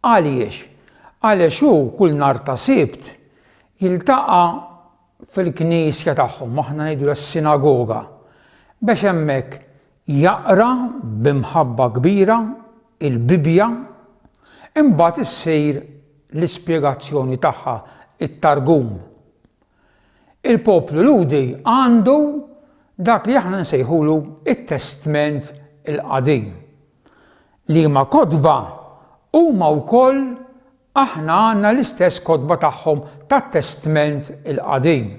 Għaliex? Għaliex hu kull nhar ta' Sibt jiltaqa' fil-knisja tagħhom, aħna ngħidulha s-sinagoga, biex hemmhekk jaqra bi mħabba kbira l-Bibbja, imbagħad issir l-ispjegazzjoni tagħha, it-Targum. Il-poplu Lhudi għandu dak li aħna nsejħulu t-Testment il-Qadim, Liema kotba? Huma wkoll aħna għandna l-istess kotba tagħhom tat-Testment il-Qadim.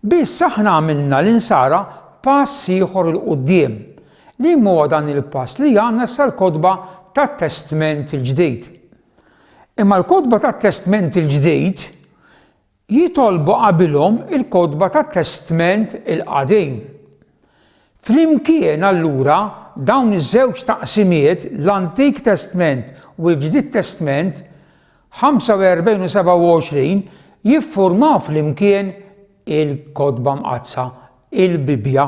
Biss aħna għamilna l-Insara pass ieħor 'il quddiem. Liema huwa dan il-pass li għandna issa l-kotba tat-Testment il-Ġdid? Imma l-kotba tat-Testment il-Ġdid Jitolbu qabilhom il-kotba tat-Testment il-Qadim. Flimkien allura dawn iż-żewġ taqsimiet, l-Antik Testment u l-Ġdid Testment, 45 u 27, jiffurmaw flimkien il-Kotba Mqaddsa, il-Bibbja.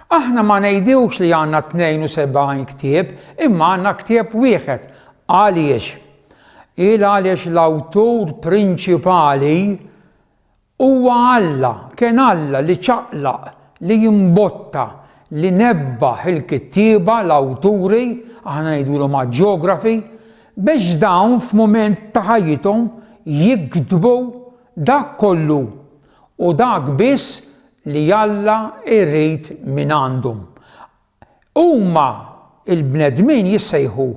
Aħna ma ngħidux li għandna 72 ktieb imma għandna ktieb wieħed. Għaliex? Il għaliex l-awtur prinċipali huwa Alla, kien Alla li ċaqlaq, li imbotta, li nebbaħ il-kittieba, l-awturi, aħna ngħidulhom aġjografi, biex dawn f'mument ta' ħajjithom jiktbu dak kollu U dak biss li Alla jrid mingħandhom. Huma, il-bnedmin, jissejħu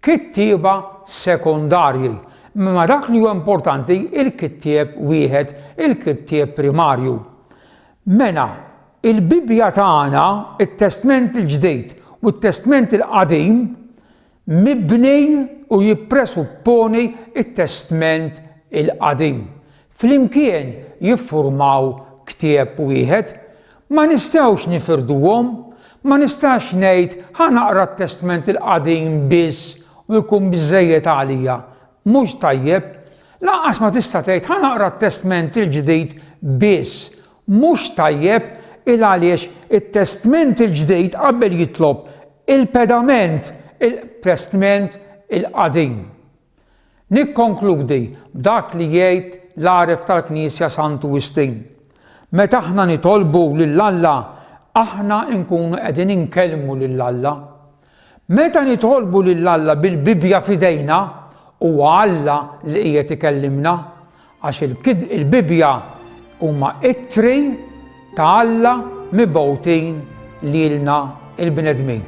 kittieba sekondarji, imma dak li huwa importanti, il-kittieb wieħed, il-kittieb primarju. Mela, il-Bibbja tagħna, it-Testment il-Ġdid u t-Testment il-Qadim, mibni u jippresupponi t-Testment il-Qadim, flimkien jiffurmaw ktieb wieħed. Ma nistgħux nifirduhom. Ma nistax ngħid ħa naqra t-Testment il-Qadim biss u jkun biżżejjed għalija. Mhux tajjeb. Lanqas ma tista' tgħid ħa naqra t-Testment il-Ġdid biss. Mhux tajjeb, il għaliex it-Testment il-Ġdid qabel jitlob Il-pedament, il-qprestment, il-qadim. Nikkonkludi b'dak li jgħid l-għaref tal-Knisja Santu Wistin, Meta aħna nitolbu lil Alla, aħna nkunu qegħdin inkellmu lil Alla. Meta nitolbu lil Alla bil-Bibbja f'idejna, huwa Alla li qiegħed ikellimna. Għax il-Bibbja huma ittri ta' Alla mibgħutin lilna l-bnedmin.